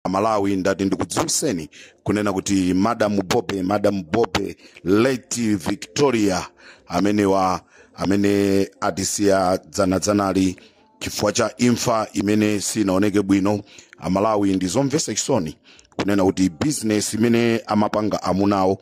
amalawi ndati ndikudziwitseni kunena kuti madam bobe madam bobe late victoria amenewa amene atisiya dzanadzanali chifukwa cha imfa imene sinaoneke bwino amalawi ndizomvesa chisoni kunena kuti bizinesi imene amapanga amunawo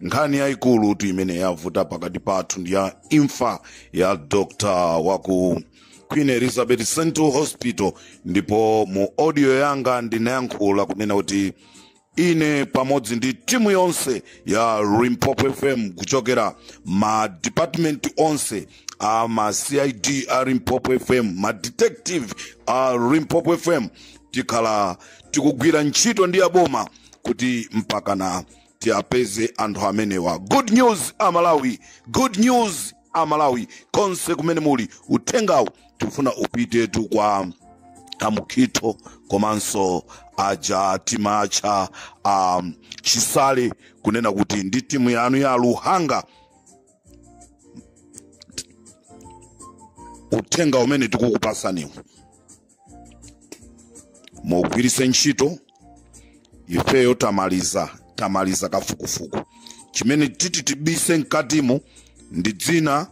nkhani yayikulu tu imene yavuta pakati pathu ndi ya imfa ya dr waku queen elizabeth central hospital ndipo mu audio yanga ndinayankhula kunena kuti ine pamodzi ndi timu yonse ya limpopo fm kuchokera ma department onse a ma cid a limpopo fm ma detective a limpopo fm tikhala tikugwira ntchito ndi aboma kuti mpakana tiapeze anthu amenewa good news amalawi good news amalawi konse kumene muli uthengawu tifuna upitetu kwa amukhitho komanso aja timatcha a chisale kunena kuti ndi timu yanu ya luhanga uthenga umene tikukupasaniwu mugwiritse ntchito ifeyo tamaliza tamaliza kafukufuku chimene titi tibise mkatimu ndi dzina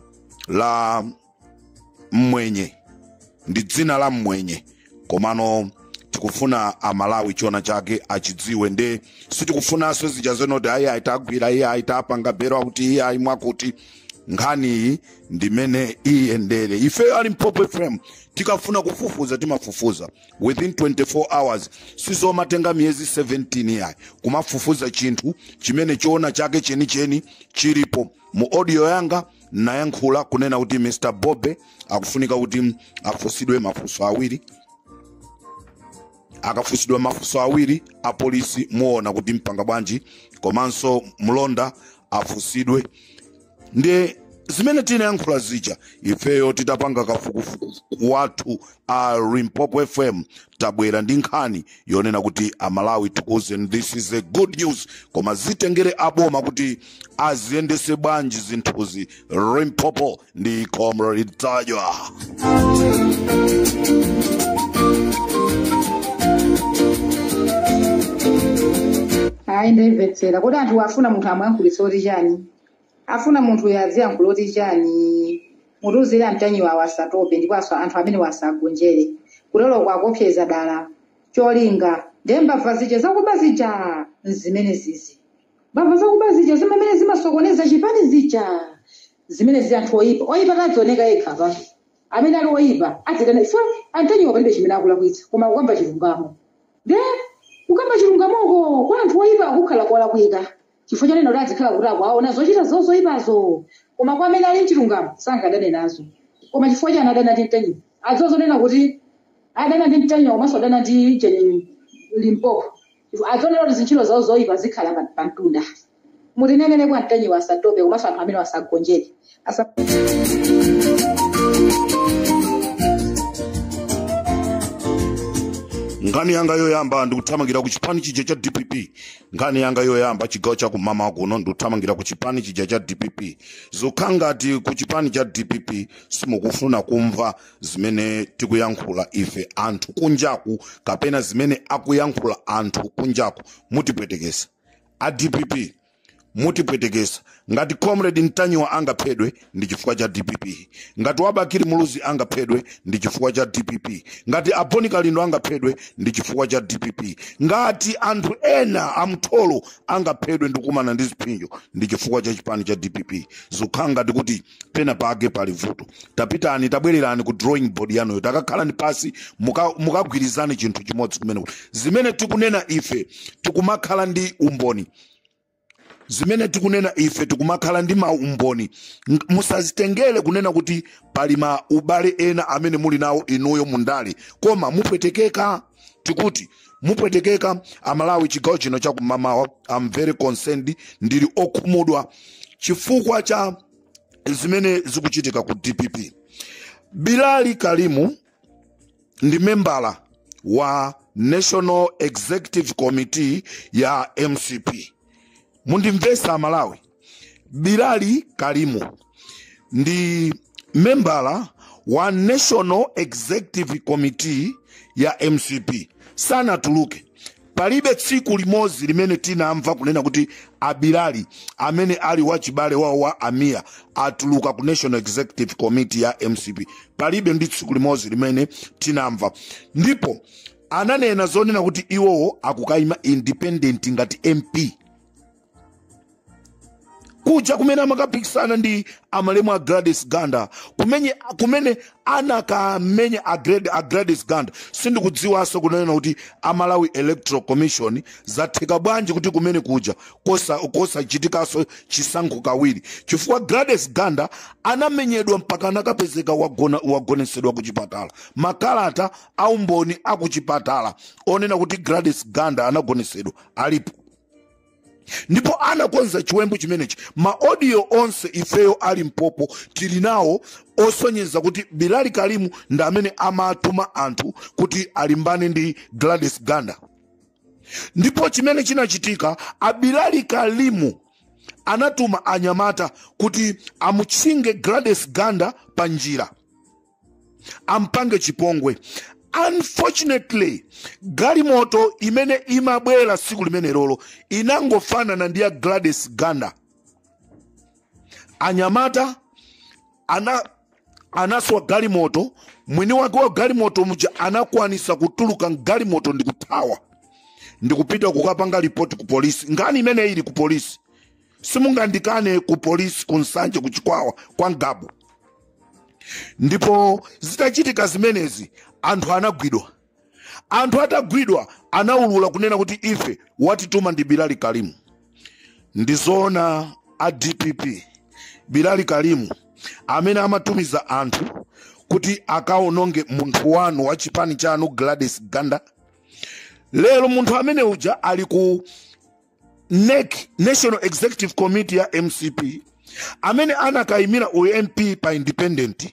la mmwenye komano tikufuna amalawi chiona chake achidziwe nde sitikufunanso zija zenoti ayi ayi tagwira iyayi tapanga belo akuti iyayi mwakuti nkhaniyi ndimene iyendere ife a limpopo fm tikafuna kufufuza timafufuza within 24 hours sizomatenga miyezi 17 yayi kumafufuza chinthu chimene choona chake chenicheni chilipo mu audio yanga nayankhula kunena kuti mr bobe akufunika kuti afunsidwe mafunso awiri akafunsidwa mafunso awiri apolisi muona kuti mpanga bwanji komanso mlonda afunsidwe ndi zimene tinayankhula zija ifeyo titapanga kafukufuku wathu a limpopo fm tabwera ndi nkhani yonena kuti amalawi tikuuzeni this is a good news koma zitengere aboma kuti aziyendese bwanji zinthuzi limpopo ndi comrade ntanyiwa ayi ndimvetsera kodi anthu afuna munthu amuyankhulitse zoti chani afuna munthu uyo aziyankhula zoti chani mutiuzire antanyiwawa asatope ndipo anthu amenewa asagonjere kuteroko akuopseza dala cholinga ndembava zija zakuba zija nzimene zizi mbava zakuba zija zimene zimasokoneza chipani zija zimene zi anthu oyipa oyipa adzioneka yekha pa amene ali oyipa adzitana so a mtanyiwa palibe chimene akulakwitsa koma kukamba chilungamo nde kukamba chilungamoko kwa anthu oyipa kukukhala kolakwika chifukwa chonena kuti adzikhala kuti akuaona zochita zawo zoyipazo koma kwa amene ali mchilungamo sangadane nazo koma chifukwa chani adana ndi mtanyiwa adziwa zonena kuti adana ndi mtanyiwa komanso adana ndi jeni limpopo Chifukwa adziwa kuti zintchito zawo zoipa zikhala pa- pamtunda. Mutinenere kwa mtanyiwa asatope komanso anthu amenewa asagonjere. Asa- nkhani yanga yoyamba ndikuthamangira ku chipani chija cha dpp nkhani yanga yoyamba chigawo cha kummawa kuno ndikuthamangira ku chipani chija cha dpp zikukhala ngati ku chipani cha dpp simukufuna kumva zimene tikuyankhula ife anthu kunjaku kapena zimene akuyankhula anthu kunjaku mutipwetekesa a dpp mutipwetekesa ngati comrade mtanyiwa angaphedwe ndi chifukwa cha dpp ngati wa bakili muluzi angaphedwe ndi chifukwa cha dpp ngati a bon kalindo angaphedwe ndi chifukwa cha dpp ngati anthu ena amtholo angaphedwe ndi kukumana ndi ziphinjo ndi chifukwa cha chipani cha dpp zikukhala ngati kuti pena pake pali vuto tapitani tabwererani ku drawing board yanuyo takakhalani pansi muka- mukagwirizane chinthu chimodzi kumene zimene tikunena ife tikumakhala ndi umboni zimene tikunena ife tikumakhala ndi maumboni Ng- musazitengere kunena kuti pali ma ubale ena amene muli nawo inuyo mundale koma mupwetekeka tikuti mupwetekeka amalawi chigawo chino chakumamawa am very concerned ndili okhumudwa chifukwa cha zimene zikuchitika ku dpp bilali karimu ndi membala wa national executive committee ya mcp mundimvesa amalawi bilali karimu ndi membala wa national executive committee ya mcp sanatuluke palibe tsiku limodzi limene tinamva kunena kuti abilali amene ali wachibale wawo wa amiya atuluka ku national executive committee ya mcp palibe ndi tsiku limodzi limene tinamva ndipo ananena zonena kuti iwowo akukayima independent ngati mp kuja kumene amakapikisana ndi amalemu a gladys ganda kumene, kumene anakamenya a, Glad- a gladys ganda sindikudziwanso kunena kuti amalawi electoral commission zatheka bwanji kuti kumene kuja kosa- kosachitikanso chisankho kawiri chifukwa gladys ganda anamenyedwa mpaka anakapezeka wagona- wagonesedwa ku chipatala makalata aumboni akuchipatala onena kuti gladys ganda anagonesedwa alipo ndipo anakonza chiwembu chimenechi maodiyo onse ifeyo a Limpopo tili nawo osonyeza kuti bilali kalimu ndi amene amatuma anthu kuti alimbane ndi gladys ganda ndipo chimene chinachitika abilali kalimu anatuma anyamata kuti amutchinge gladys ganda pa njira ampange chipongwe unfortunately galimoto imene imabwera siku limenerolo inangofanana ndi ya gladys ganda anyamata aja anaswa galimoto mwini wake wa galimoto muja anakwanisa kutuluka mgalimoto ndikuthawa ndikupita kukapanga ripoti ku polisi nkhani imene ili ku polisi simungandikane ku polisi ku nsanje ku chikwawa kwa ngabu ndipo zitachitika zimenezi anthu anagwidwa anthu atagwidwa anaulula kunena kuti ife watituma ndi bilali kalimu ndizoona a dpp bilali kalimu amene amatumiza anthu kuti akaononge munthu wanu wa chipani chanu gladys ganda lero munthu amene uja ali ku NEC, National Executive Committee ya MCP, amene anakayimira UMP pa independent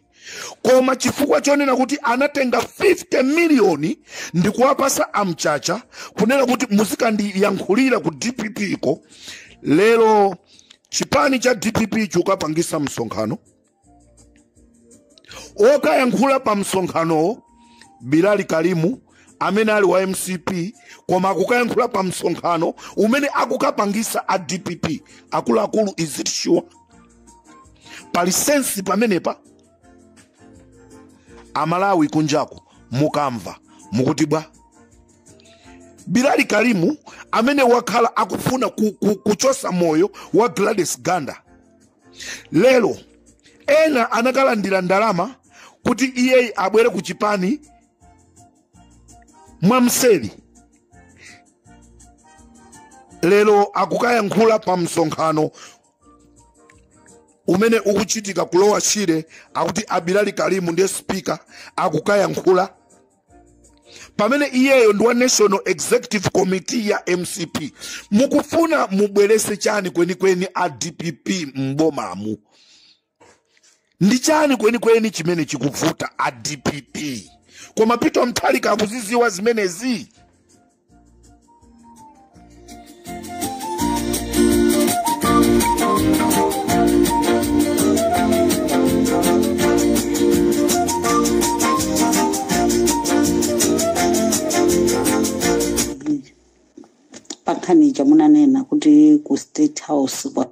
koma chifukwa chonena kuti anatenga 50 miliyoni ndi kuwapasa a mchacha kunena kuti muzikandiyankhulira ku dpp ko lero chipani cha dpp chukapangisa msonkhano okayankhula pa msonkhanowo bilali kalimu amene ali wa mcp koma akukayankhula pa msonkhano umene akukapangisa a dpp akuluakulu is it sure pali sensi pamenepa amalawi kunjako mukamva mukuti bwa bilali kalimu amene wakhala akufuna kuchosa moyo wa gladys ganda lero ena anakalandira ndalama kuti iyeyi abwere ku chipani mwamseri lero akukayankhula pa msonkhano umene ukuchitika ku lower shire akuti abilali kalimu ndiye spika akukayankhula pamene iyeyo ndi wa national executive committee ya mcp mukufuna mubwerese chani kwenikweni a dpp m'bomamu ndi chani kwenikweni chimene chikuvuta a dpp koma peter mutharika akuziziwa zimenezi pakhani ija munanena kuti ku state house kwa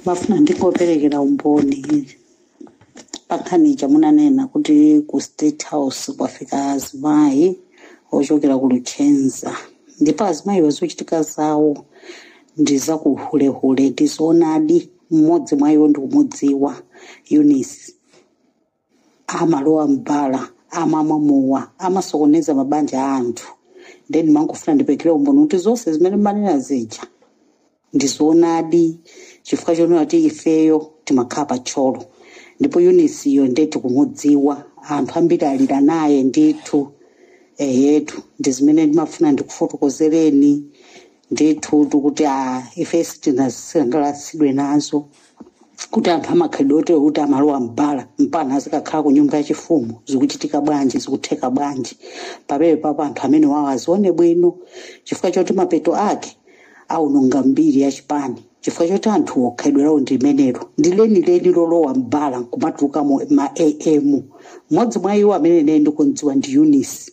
mmafuna ndingoperekera umboni pakhani ija munanena kuti ku state house kwafika azimayi ochokera ku luchenza ndipo azimayiwo zochitika zawo ndi zakuhulehule ndizoonadi mmodzi mwa iwo ndikumudziwa eunice amalowa mbala amamwa mowa amasokoneza mabanja a anthu ndiye ndimangofuna ndipekere umboni kuti zonse zimene mmanena zija ndizoonadi chifukwa chonena kuti ifeyo timakhala pa thyolo ndipo eunice yo ndiye tikumudziwa anthu ambiri alira naye ndithu eyetu ndi zimene ndimafuna ndikufotokozereni ndithu kuti ife sitinasangalatsidwe nazo kuti anthu amakhalidwe oterewo kuti amalowa mbala mpana azikakhala ku nyumba yachifumu zikuchitika bwanji zikutheka bwanji pamenepapo anthu amenewawo azione bwino chifukwa choti mapeto ake aononga mbiri ya chipani chifukwa choti anthuwo khalidwe lawo ndi limenelo ndi lenileni lolowa mbala nkumatulukamo ma am mmodzi mwa iwo amene ine ndikumdziwa ndi eunice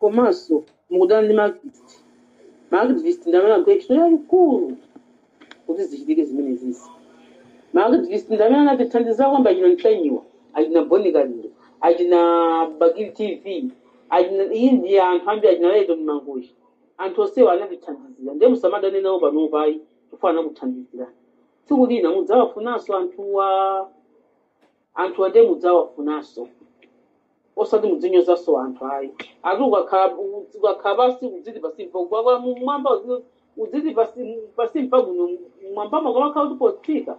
komanso mukudana ndi ma activist ma activist ndi amene agwira ntchito yayikulu kuti zichitike zimenezizi ma activist ndi amene anatithandiza kwambiri achina ntanyiwa achina bon kalindo achina bakili tv achina iyi ndi anthu ambiri achina lyton mangochi anthu onsewa anatithandizira ndiye musamadane nawo panopa ayi chifukwa anakuthandizirani tsiku lina mudzawafunanso anthuwa anthuwa ndiye mudzawafunanso osati mudzinyozanso anthu ayi ati ukakhala ukakhala pasi udziti pasi mpa kubwabwa mumwamba udziti pasi pasi mpabwino mmwambamo kumakhala kuti potsika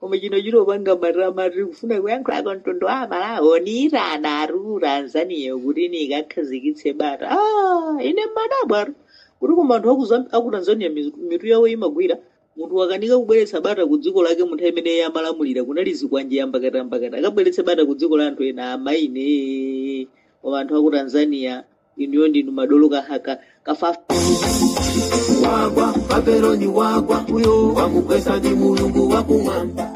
koma chino chingopanga matama tiri kufuna kuyankhula kwa mtundu wa amalawi andiitanatu ku tanzania kuti nikakhazikitse bata ah, ine mmadabwatu kuti koma anthu aku Zam- aku tanzania mizu- mitu yawo imagwira munthu wakanika kubweretsa bata ku dziko lake munthu amene iye amalamulira kunali zikwanje yambakatambakata akabweretse bata ku dziko la anthu ena amaine koma anthu aku tanzania inuyo ndinu madolo kahaka kafafa wagwa babeloni wagwa uyo wamugwesa ndi mulungu wakumwamba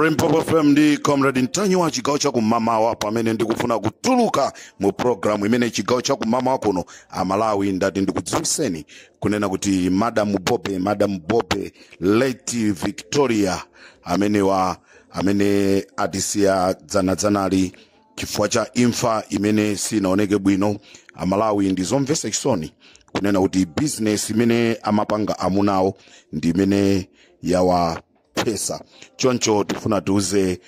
Limpopo FM ndi Comrade Ntanyiwa chigawo cha kumamawa pamene ndikufuna kutuluka mu programu imene chigawo cha kumamawa kuno amalawi ndati ndikudziwiseni kunena kuti Madam Bobe Madam Bobe late Victoria amenewa amene atisiya dzanadzanali chifukwa cha imfa imene sinaoneke bwino amalawi ndi zomvesa chisoni kunena kuti bizinesi imene amapanga amunawo ndi imene yawaphesa choncho tifuna tiuze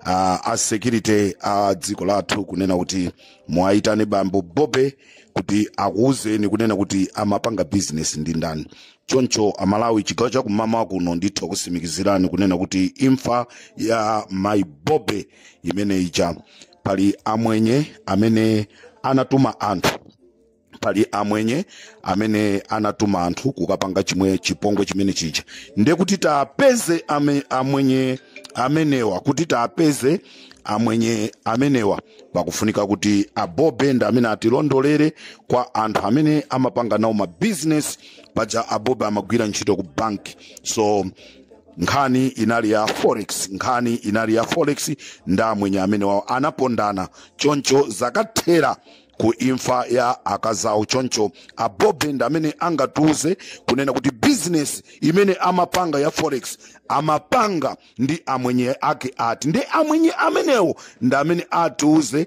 a security a dziko lathu kunena kuti muwayitane bambo bobe kuti akuwuzeni kunena kuti amapanga bizinesi ndi ndani choncho amalawi chigawo chakumamawa kuno ndithu nkusimikizireni kunena kuti imfa ya mai bobe imene ija pali amwenye amene anatuma anthu pali amwenye amene anatuma anthu kukapanga chimwe chipongwe chimene chija nde kuti tapeze ame, amwenye amenewa kuti tapeze amwenye amenewa pakufunika kuti abobe nda amene atilondolere kwa anthu amene amapanga nawo mabizinesi paja abobe amagwira ntchito ku banki so nkhani inali ya forex nkhani inali ya forex ndi amwenye amenewawo anapondana choncho zakathera ku imfa ya akazawo choncho abobe ndi amene angatiuze kunena kuti bizinesi imene amapanga ya forex amapanga ndi amwenye ake ati ndi amwenye amenewo ndi amene atiuze